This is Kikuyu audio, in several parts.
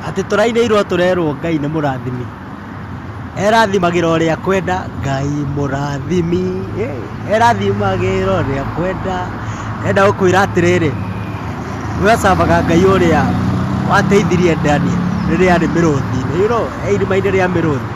Atĩ tũrainĩirwo tũrerwo Ngai nĩ mũrathimi. Erathimagĩra ũrĩa akwenda Ngai mũrathimi. Erathimagĩra ũrĩa akwenda. Enda gũkwĩra atĩrĩrĩ, we cavaga Ngai ũrĩa wateithirie Daniel rĩrĩa arĩ mĩrũthi-inĩ, you know, e irima-inĩ rĩa mĩrũthi.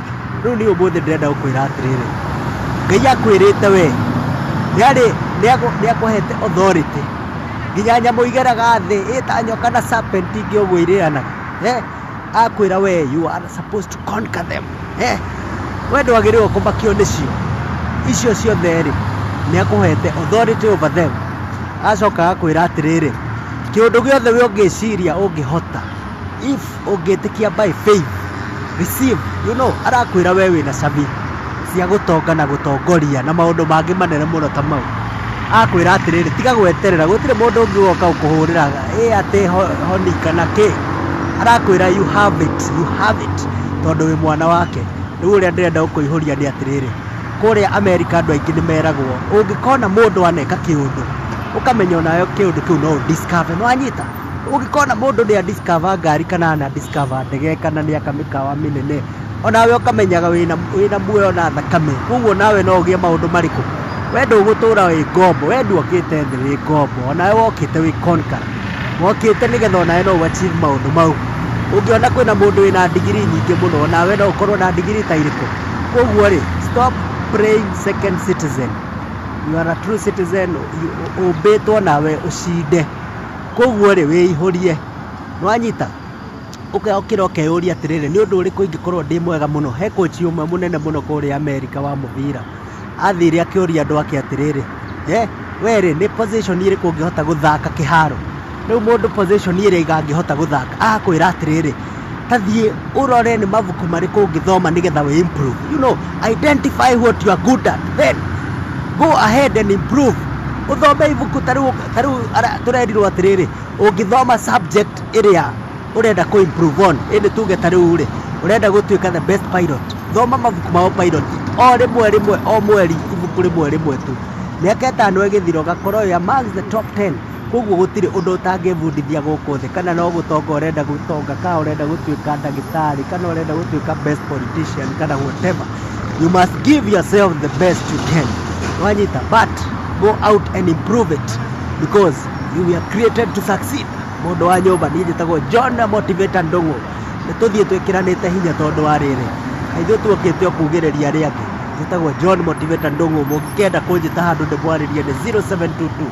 Rĩu niĩ ũmũthĩ ndĩrenda gũkwĩra atĩrĩrĩ, Ngai akwĩrĩte we, nĩarĩ nĩakũhete authority nginya nyamũ igeraga thĩ ĩta nyoka na serpent ingĩ ũguo irĩanaga eh, akwĩra we you are supposed to conquer them eh, we ndwagĩrĩirwo kũmakio nĩcio icio ciothe rĩ nĩakũhete authority over them, agacoka agakwĩra atĩrĩrĩ kĩũndũ gĩothe we ũngĩciria ũngĩhota If ũngĩtĩkia by faith, receive, you know arakwĩra we wĩna cabi cia gũtonga na gũtongoria na maũndũ mangĩ manene mũno ta mau. Akwĩra atĩrĩrĩ tiga gweterera gũtirĩ mũndũ ũngĩ ũgoka gũkũhũrĩra ĩ atĩ honi kana kĩ. Arakwĩra you have it, you have it tondũ wĩ mwana wake. Rĩu ũrĩa ndĩrenda gũkũihũria nĩ atĩrĩrĩ, kũrĩa America andũ aingĩ nĩ meragwo ũngĩkona mũndũ aneka kĩũndũ ũkamenya onawe kĩũndũ kĩu no ũ discover. Nĩ wanyita? Ũngĩkorwo na mũndũ nĩ a discover ngari kana ana discover ndege kana nĩ aka mĩkawa mĩnene, onawe ũkamenyaga wĩna muoyo na thakame, kũguo onawe no ũgĩe maũndũ marĩkũ? We ndũgũtũra wĩ ngombo, we ndwokĩte thĩ wĩ ngombo, onawe wokĩte wĩ conqueror, wokĩte nĩgetha onawe no ũ achieve maũndũ mau. Ũngĩona kwĩna mũndũ wĩna ndigiri nyingĩ mũno, onawe no ũkorwo na ndigiri ta irĩkũ? Kũguo rĩ, stop playing second citizen, you are a true citizen, ũmbĩtwo nawe ũcinde. Koguo rĩ, wĩihũrie. Nĩ wanyita? Ũka ũkĩra ũkeyũria atĩrĩrĩ, nĩ ũndũ ũrĩkũ ingĩkorwo ndĩ mwega mũno? He koci ũmwe mũnene mũno kũrĩa Amerika wa mũbira, athire akĩũria andũ ake atĩrĩrĩ, eh, we rĩ, nĩ position ĩrĩkũ ũngĩhota gũthaka kĩharo? Rĩu mũndũ position ĩrĩa angĩhota gũthaka agakwĩra atĩrĩrĩ, ta thiĩ ũrore nĩ mabuku marĩkũ ũngĩthoma nĩgetha wĩ improve you know identify what you are good at then go ahead and improve ũthome ibuku ta rĩu ta rĩu ara- tũrerirwo atĩrĩrĩ ũngĩthoma subject ĩrĩa ũrenda kũ improve on ĩndĩ tuge ta rĩu rĩ ũrenda gũtuĩka the best pilot thoma mabuku ma pilot o rĩmwe rĩmwe o mweri ibuku rĩmwe rĩmwe tu mĩaka ĩtano ĩgĩthira ũgakorwo you are amongst the top 10 Koguo gũtirĩ ũndũ ũtangĩbundithia gũkũ thĩ kana no gũtonga ũrenda gũtonga kana ũrenda gũtuĩka ndagĩtarĩ kana ũrenda gũtuĩka best politician kana whatever. You must give yourself the best you can. Wanyita but go out and improve it because you were created to succeed. Mũndũ wa nyũmba niĩ njĩtagwo John Motivator Ndũgũ. Nĩ tũthiĩ twĩkĩranĩte hinya tondũ wa rĩrĩ. Na ithuĩ tuokĩte o kugĩrĩria arĩa angĩ. Njĩtagwo John Motivator Ndũgũ. Mũngĩkenda kũnjĩta handũ ndĩmwarĩrie nĩ 0722